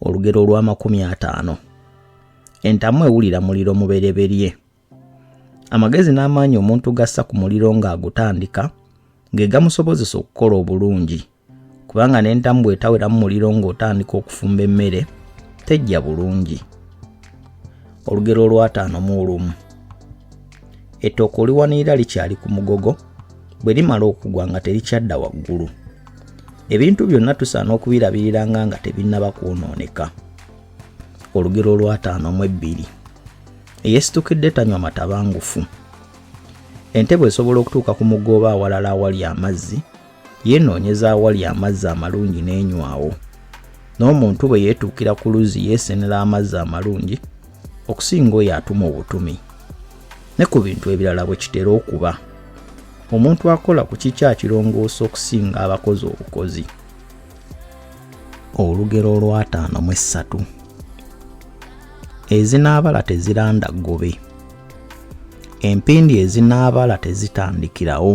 olugero olw'amakumi ataano entamu ewulira muliro mubereberye amagezi n'amaanyi omuntu gassa ku muliro ng'agutandika ge gamusobozesa okukola obulungi kubanga n'entamu bw'etawera mu muliro ng'otandika okufumba emmere tejja bulungi olugero olwataano mu olumu Ettooke oliwanirira likyali ku mugogo, bwe limala okugwa nga terikyadda waggulu. Ebintu byonna tusaana okubirabiriranga nga tebinnaba kwonooneka. Olugero olw'ataano mu ebbiri. Eyeesitukidde tanywa matabangufu. Entebwe esobola okutuuka ku mugga oba awalala awali amazzi yeenoonyeza awali amazzi amalungi n'enywawo n'omuntu bwe yeetuukira ku luzzi yeesenera amazzi amalungi okusinga oyo atuma obutumi ne ku bintu ebirala bwe kitera okuba omuntu akola ku kikya kirongoosa okusinga abakozi obukozi olugero olwataano mu essatu ezinaabala teziranda ggobe empindi ezinaabala tezitandikirawo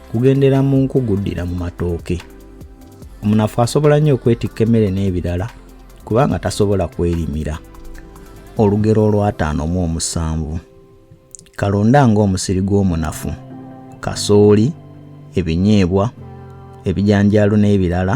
kugendera mu nkugu ddira mu matooke omunafu asobola nnyo okwetikka emmere n'ebirala kubanga tasobola kwerimira olugero olwataano mu omusanvu kalonda ng'omusiri gw'omunafu kasooli ebinyeebwa ebijanjaalo n'ebirala